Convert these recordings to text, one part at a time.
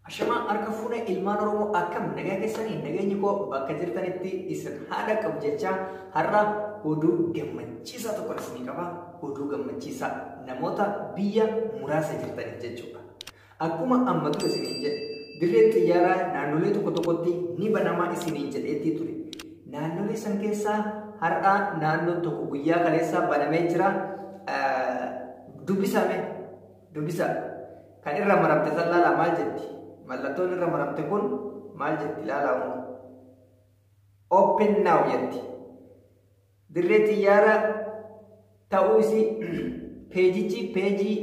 Ashamaa harka fuune ilmaan Oromoo akkam nagaa keessanii nageenyi koo bakka jirtanitti isin haa dhaqqabu jechaa har'a oduu gammachiisaa tokko isinii qaba. Oduu gammachiisaa namoota biyya muraasa jirtaniif jechuudha. Akkuma amma ture isiniin jedhe dirree xiyyaaraa naannolee tokko tokkotti ni banamaa isiniin jedheetti ture. Naannolee san keessaa har'a naannoo tokko guyyaa kaleessaa banamee jira. Dubbisame dubbisa. Kan irra maramte san laalaa maal jetti? Mallattoon irra maramte kun maal jetti? Laalaa hunda. Open now jetti. Dirree xiyyaara ta'uu isii peejichi peejii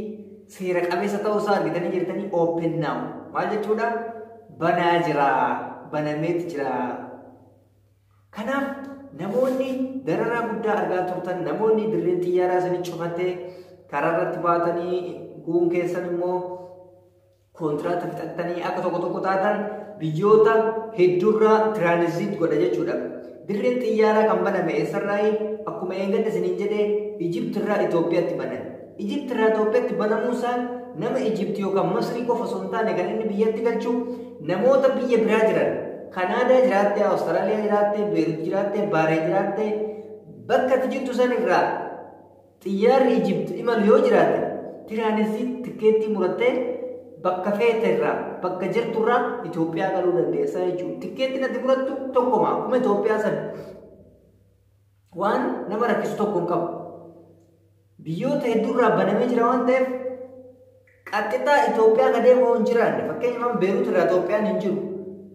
seera qabeessa ta'uu isaa argitanii jirtanii open now. Maal jechuudha? Banaa jira. Banameeti jira. Kanaaf namoonni dararaa guddaa argaa turtan namoonni dirreen xiyyaaraa isin cufattee karaa irratti baatanii kuun keessan immoo kontiraata fixattanii akka tokko tokko taatan biyyoota hedduurraa tiraanizit godha jechuudha. Dirreen xiyyaaraa kan baname eessarraayi akkuma eeggadde isiniin jedhee Ijiptirraa Itoophiyaatti banan. Egypt irraa Itoophiyaatti banamuu isaan nama Egypt yookaan Masrii qofa osoo hin taane kan inni biyyatti galchu namoota biyya biraa jiran Kanaadaa jiraattee, Awustiraaliyaa jiraattee, Beerut jiraattee, Baaree jiraattee bakka ati jirtu san irraa xiyyaarri Egypt imalu yoo jiraate tiraanizii tikkeettii murattee bakka feete irraa bakka jirtu irraa Itoophiyaa galuu dandeessaa jechuudha. Tikkeettiin ati murattu tokkuma akkuma Itoophiyaa sana. waan nama rakkisu tokko hin qabu. Biyyoota hedduurraa banamee jira waan ta'eef qaxxixaa Itoophiyaa ka deemu hin jiraanne fakkeenyaaf Beerut irraa Itoophiyaan hin jiru.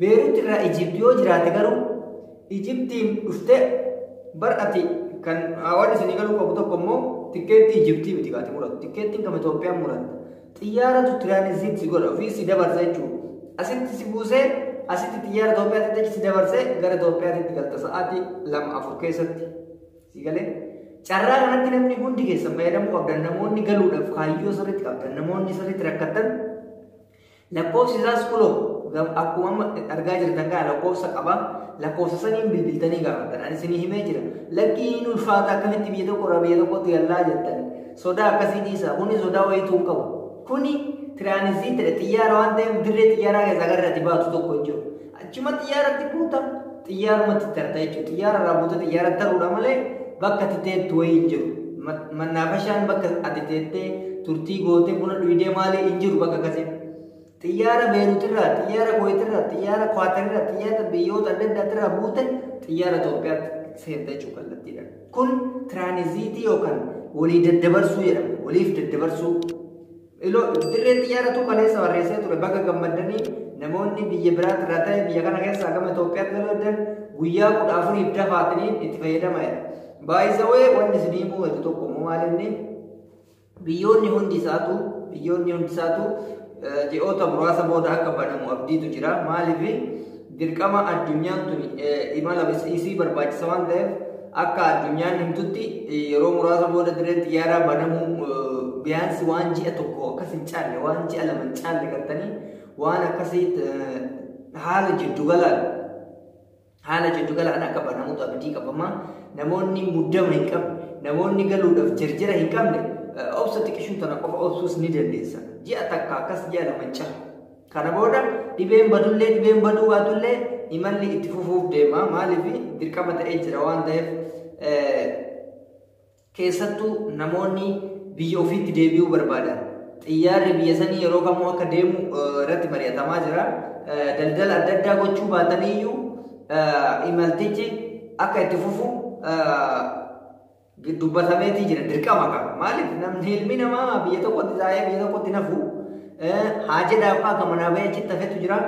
Beerut irraa Ijipti yoo jiraate garuu Ijiptiin dhuftee bar'ati kan waan isinii galuu qabu tokko immoo tikkeettii Ijiptii miti kaati muratu. Tikkeettiin kam Itoophiyaan muratta. Xiyyaaratu tiraanizit si godha ofii si dabarsa jechuudha. Asitti si buusee asitti xiyyaara Itoophiyaatti achi si dabarsee gara Itoophiyaatti galta sa'aatii lama afur keessatti si galee. Carraa kanatti namni hundi keessan fayyadamuu qabdan namoonni galuudhaaf kaayyoo sirriitti qabdan namoonni sirriitti rakkatan lakkoofsi isaas kunoo akkuma amma argaa jirtan kana lakkoofsa qaba lakkoofsa saniin bilbiltanii gaafattan ani isinii himee jira lakkii hin ulfaata akkamitti biyya tokko irraa biyya tokkotti gallaa jettan Sodaa akkasii dhiisaa. Kuni sodaa wayiitu hin qabu. Kuni tiraanizitidha. Xiyyaara waan ta'eef dirree xiyyaaraa keessaa gara irratti baatu tokko hin jiru. Achuma xiyyaaratti buuta xiyyaarumatti tarta jechuudha. Xiyyaara irraa buuta xiyyaara taruudha malee bakka ati teettu wayii hin jiru. Mannaafashaan bakka ati teettee turtii gootee buna dhuydee maalii hin jiru bakka akkasii. Xiyyaara Beeruutirraa, xiyyaara Kuweetirraa, xiyyaara Kuwaatarirraa, xiyyaara biyyoota adda addaatirraa buute xiyyaara Itoophiyaatti seenta jechuun kallattiidhaan. Kun tiraaniziitii yookaan walii daddabarsuu jedhama. Waliif daddabarsuu. Iloo dirree xiyyaaratu kaleessa barreessee ture baga gammaddanii namoonni biyya biraatirraa ta'e biyya kana keessaa gama Itoophiyaatti galuudhaan guyyaa kudha afuriif dafaatanii itti fayyadama jedha. Baay'isawee wanni isin himuu tokko immoo maalinni Biyyoonni hundi isaatu biyyoonni hundi isaatu ji'oota muraasa booda akka banamu abdiitu jira. Maaliif dirqama addunyaan tun imala isii barbaachisa waan ta'eef akka addunyaan himtutti yeroo muraasa booda dirreen xiyyaaraa banamuu biyaansi waan ji'a tokko akkas hin caalle waan ji'a lama hin caalle gartanii waan akkasii haala jiddu galaan Haala jiddugalaan akka banamutu abdii qabama. Namoonni muddama hin qabne, namoonni galuudhaaf jirjira hin qabne obsa xiqishuu tana qofa obsuus ni dandeessa. Ji'a takka akkas ji'a lama hin cahu. Kana booda dhibeen badullee dhibeen baduu baatullee imalli itti fufuuf deema. Maaliif dirqama ta'ee jira waan ta'eef Keessattuu namoonni biyya ofiitti deebi'uu barbaadan xiyyaarri biyya sanii yeroo kamuu akka deemu irratti mari'atamaa jira. Daldala adda addaa gochuu baataniyyuu imaltichi akka itti fufu dubbatameetii jira dirqama qaba. Maaliif namni ilmi namaa biyya tokkotti taa'ee biyya tokkotti nafu haa jedhaafaa akka manaa bahee achitti hafetu jira.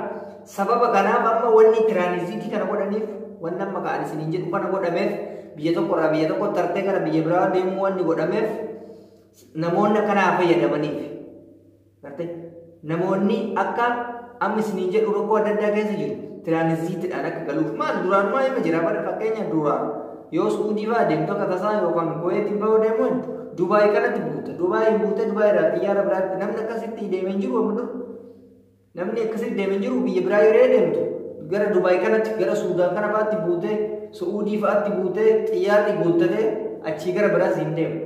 Sababa kanaaf amma wanni tiraanisiitii kana godhaniif wanni amma ka'an isiniin jedhu kana godhameef biyya tokko irraa biyya tokko tartee gara biyya biraa deemuu wanni godhameef namoonni akkanaa fayyadamaniif. Gartee namoonni akka amma isiniin jedhu rakkoo adda addaa keessa jiru tiraanisiitiidhaan akka galuuf maal duraanumaa hima jira bara fakkeenya duraa yoo suudii fa'aa deemtu akka tasaa yookaan kuweetiin fa'aa deemuun Dubaay kanatti buuta. Dubaay hin buute Dubaay irraa xiyyaara biraatti namni akkasitti deemee hin jiru amma dur. Namni akkasitti deeme hin jiru biyya biraa yeree deemtu gara Dubaay kanatti gara Suudaan kana fa'aatti buutee Su'uudii fa'aatti buutee xiyyaarri guuttatee achii gara biraas hin deemu.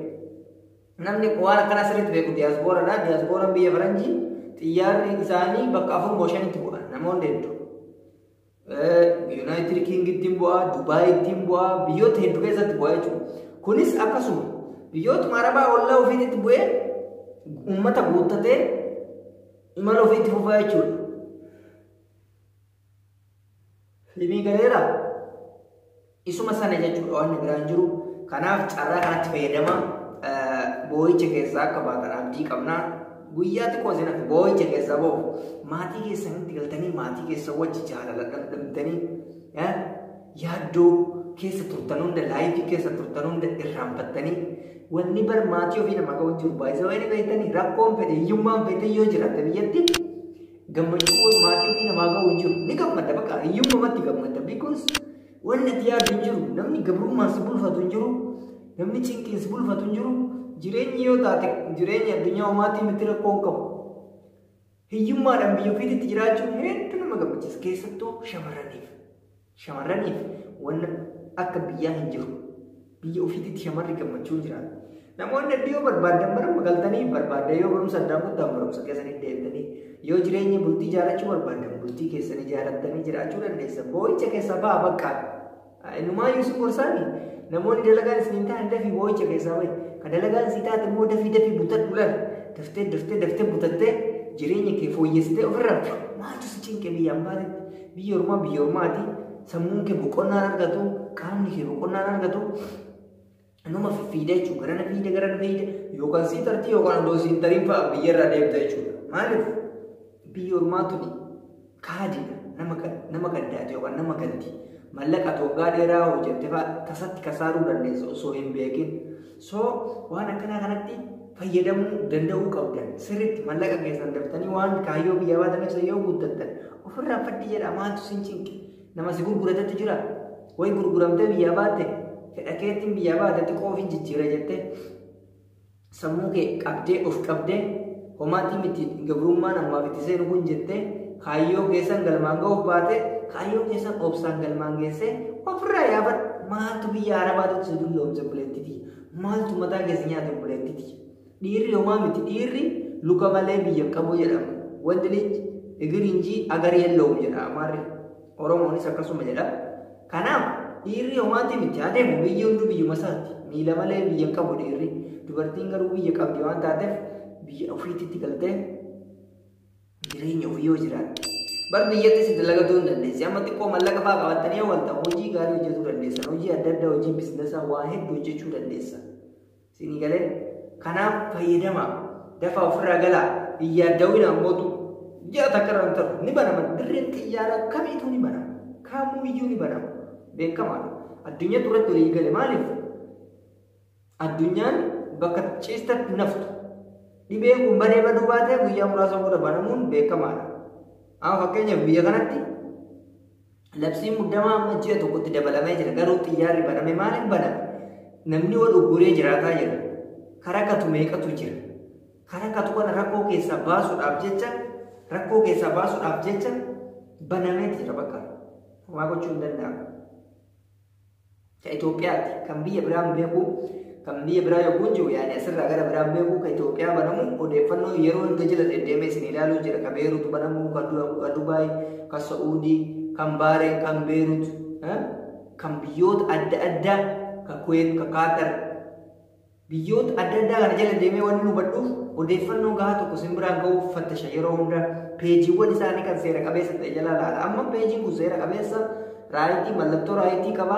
Namni waan akkanaa sirriitti beeku diyaasbooradha. Diyaasbooraan biyya faranjii xiyyaarri isaanii bakka afur moo shanitti bu'a namoonni hedduu. Yuunaayitid Kiingittiin bu'aa, Dubaayittiin bu'aa, biyyoota hedduu keessatti bu'aa jechuudha. Kunis akkasuma biyyootuma arabaa ollaa ofiitti bu'ee uummata guuttatee imala ofiitti fufaa jechuudha. Limii galeera. Isuma sana jechuudha wanni biraa hin jiru. Kanaaf carraa kanatti fayyadamaa boo'icha keessaa akka baatan abdii qabnaa. Guyyaa xiqqoo isin hafe boo'icha keessaa boo'u. Maatii keessanitti galtanii maatii keessa wajji jaalala dhandhamtanii yaaddoo keessa turtan hunda laayifii keessa turtan hunda irraanfattanii wanni bar maatii ofii nama ga'u jiru baay'isa wayii beektanii rakkoon fedhe hiyyummaan fedhe yoo jiraate biyyatti Gammachuun maatii ofii namaa ga'u hin jiru. Ni gammadda bakka hiyyummamatti gammadda. Because wanni ati yaadu hin jiru. Namni gabrummaan si bulfatu hin jiru. Namni cinqiin si bulfatu hin jiru. Jireenyi yoo taate jireenya addunyaa homaatii miti rakkoo hin qabu. Hiyyummaadhaan biyya ofiitti jiraachuun hedduu nama gammachiisa. Keessattuu shamarraniif. Shamarraniif wanna akka biyyaa hin jiru. Biyya ofiititti shamarri gammachuun jiraata. Namoonni hedduu yoo barbaaddan barumsa galtanii barbaaddan yoo barumsa addaan kuttan barumsa keessanii deemtanii yoo jireenya bultii ijaarrachuu barbaaddan bultii keessanii ijaarrattanii jiraachuu dandeessa. Boo'icha keessa ba'a baqqaa. Innumaa Yuusuf Gorsaani namoonni dalagaan isin hin taane dafii boo'icha keessaa ba'i. Ka dalagaan si taate immoo dafii dafii butadhu laal. Daftee daftee daftee butattee jireenya kee fooyyessitee ofirraa maaltu si cinqe biyya ambaatetti. Biyyi ormaa biyya ormaati. Sammuun kee boqonnaan argatu, qaamni kee boqonnaan argatu. Numa fiffiida jechuudha. Garana fiida, garana fiida. Yookaan sii tartii yookaan odoo siin tariin fa'a biyya irraa deemta jechuudha. Maaliif? Biyyi ormaa tuni kaadiidha. Nama kan- nama kaddaati yookaan nama ganti. Mallaqa ati waggaa dheeraa hojjette fa'a tasatti kasaaruu dandeessa osoo hin beekin. So waan akkanaa kanatti fayyadamuu danda'uu qabdan sirriitti mallaqa keessan daftanii waan kaayyoo biyyaa baatan ibsa yoo guuttattan ofirraa faddi jedha maaltu sin cinqe nama si gurguratetu jira way gurguramtee biyyaa baatte fedha keetiin biyyaa baatte xiqqoo ofiin jijjiira jettee sammuu kee qabdee of qabdee Homaatii miti gabrummaan ammaaf itti seenu kun jettee kaayyoo keessan galmaan ga'uuf baate kaayyoo keessan obsaan galmaan geessee ofirraa yaafadhu. Maaltu biyya arabaatitti si dulloomse buleettiti? Maaltu mataa keessa nyaate buleettiti? Dhiirri homaa miti dhiirri luka malee biyya hin qabu jedhama. Wand lij egirinjii agar yellowum jedha amaarri. Oromoonis akkasuma jedha. Kanaaf dhiirri homaatti miti haa deemu biyyi hunduu biyyuma isaati miila malee biyya hin qabu dhiirri dubartiin garuu biyya qabdi waan taateef biyya ofiitti galtee jireenya ofii yoo jiraatte bar biyyattis itti lagatuu hin dandeessi amma xiqqoo mallaqa fa'aa qabattanii yoo walta hojii gaarii hojjetuu dandeessan hojii adda addaa hojii biizinasa waa hedduu hojjechuu dandeessan Siinii galee? Kanaaf fayyadamaa. Dafaa ofirraa galaa. Hin yaaddawinaa mootu. Ji'a takka irraa hin taru. Ni banama. Dirreen xiyyaaraa kamiituu ni banama. Kamuu iyyuu ni banama. Beekamaadha. Addunyaatu irratti walii gale. Maaliif? Addunyaan bakka ciistatti naftu. Dhibee kun badee baduu baatee guyyaa muraasa booda banamuun beekamaadha. Amma fakkeenyaaf biyya kanatti Labsiin muddamaa amma ji'a tokkotti dabalamee jira. Garuu xiyyaarri baname maaliif baname? Namni wal ugguree jiraataa jira. Karaa katu meeqatu jira. Karaa katu kana rakkoo keessaa baasuudhaaf jecha rakkoo keessaa baasuudhaaf jecha banamee jira bakka. Homaa gochuu hin danda'amu. Ka Itoophiyaati. Kan biyya biraan beeku kan biyya biraa yogguun jiru yaani asirraa gara biraan beeku ka Itoophiyaa banamu odeeffannoo yeroo hunda jala deddeemee isin ilaaluu jira. Ka Beeruut banamu, ka Du- ka Dubaay, ka Sa'uudii, kan Baareen, kan Beeruut, eh, kan biyyoota adda addaa, ka Kuweet, ka Kaatar, Biyyoota adda addaa kana jala deemee waanin hubadhuuf odeeffannoo gahaa tokko sin biraan gahuuf fattasha yeroo hunda peejiiwwan isaanii kan seera qabeessa ta'e jala laala. Amma peejiin kun seera qabeessa raayitii mallattoo raayitii qaba.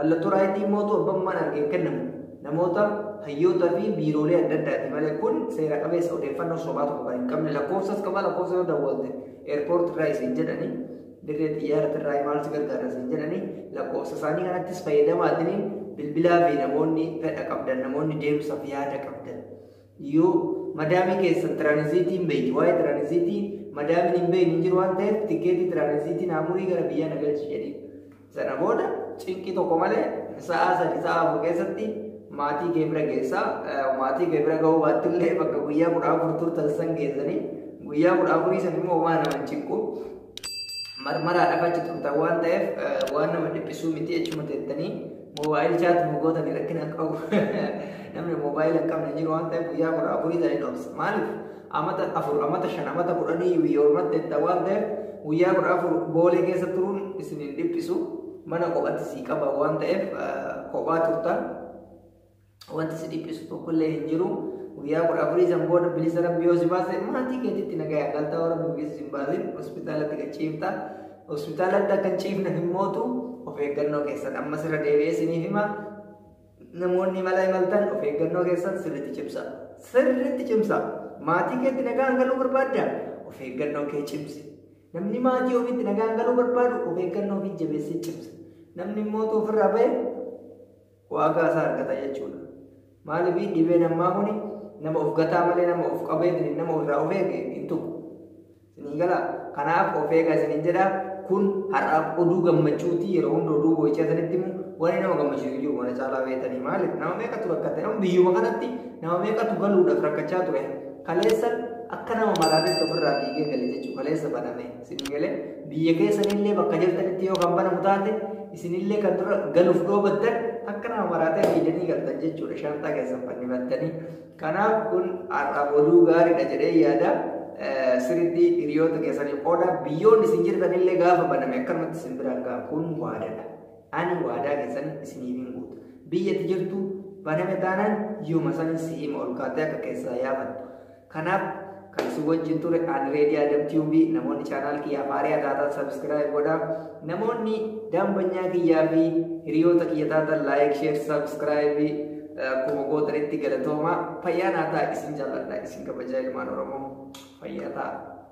Mallattoo raayitii immoo utuu abbummaan argee hin kennamu. Namoota hayyoota fi biiroolee adda addaati malee kun seera qabeessa odeeffannoo sobaa tokko kan hin qabne lakkoofsas qaba lakkoofsa yoo dawwalte eerpoorti irraa isin jedhani dirree xiyyaarati irraa imaaltu gargaara siin jedhanii lakkoofsa isaanii kanattis fayyadamaatiniin bilbilaa fi namoonni fedha qabdan namoonni deemsaaf yaada qabdan yoo madaamii keessan tiraanisiitii hin beektu waa'ee tiraanisiitii madaamiin hin beektu hin jiru waan ta'eef tikeetii tiraanisiitiin amurii gara biyyaa na galchi jedhiin Sana booda cinqii tokko malee sa'a sadi sa'a afur keessatti maatii kee bira geessaa maatii kee bira ga'uu baatti illee bakka guyyaa kudha afur turtan san geessanii guyyaa kudha afurii san immoo waan nama cinqu marmaraa dhafa achi turtan waan ta'eef waan nama dhiphisuu miti jechuma teettanii moobaayil chaat mugoota ni rakkina qabu namni moobaayil hin qabne jiru waan ta'eef guyyaa kudha afurii san hin obsa maaliif amata afur amata shan amata kudhanii biyya ormatti jettan waan ta'eef guyyaa kudha afur boolee keessa turuun isin hin dhiphisu mana kophatti sii qaba waan ta'eef kophaa turtan wanti si dhiphisu tokkollee hin jiru guyyaa kudha afurii san booda bilisa rabbi yoo si baase maatii keetitti nagaya galtaa warra bilisa si hin baasin hospitaalatti kan ciifta hospitaalatti akka hin ciifne hin mootu of eeggannoo keessan ammas irra deebi'ee isiniif hima Namoonni imala imaltan of eeggannoo keessan sirriitti cimsa. Sirriitti cimsa. Maatii keetti nagaan galuu barbaadda? Of eeggannoo kee cimsi. Namni maatii ofiitti nagaan galuu barbaadu of eeggannoo ofii jabeessee cimsa. Namni immoo utuu ofirraa ba'e waagaa isaa argata jechuudha. Maaliif dhibeen ammaa kuni nama of gataa malee nama of qabee nama irraa of eege hin tuqu. Sinii gala kanaaf of eegaa isinin jedha kun har'aaf oduu gammachuuti yeroo hunda oduu boo'ichaa isinitti himu wanni nama gammachiisu jiru mana caalaa beektanii maaliif nama meeqatu rakkatte nama biyyuma kanatti nama meeqatu galuudhaaf rakkachaa ture kaleessa akka nama malaaletti ofirraa fiigee gale jechuu kaleessa baname isinii galee biyya keessanillee bakka jirtanitti yoo kan banamu taate isinillee kan dura galuuf dhoobattan akka nama maraatee fiiganii galtan jechuudha shaanxaa keessan fannifattanii Kanaaf kun har'a oduu gaariidha jedhee yaada. Sirriitti hiriyoota keessanii qooda biyyoonni isin jirtan illee gaafa baname akkanumatti isin biraan ga'a. Kun waadaadha. Ani waadaa keessan isiniif hin guutu. Biyya itti jirtu baname taanaan yooma sanin si hima ol kaatee akka keessaa yaafattu. Kanaaf Kan isin wajjin ture an Reedii Adam Tube. Namoonni chaanaal kiyyaaf haaraa taatan subscribe godhaa. Namoonni daambanyaa kiyyaa fi hiriyoota kiyya taatan like, share, subscribe akkuma gootanitti galatooma. Fayyaa naa ta'a isin jaalladha isin kabajaa ilmaan Oromoo. Fayyaa ta'a.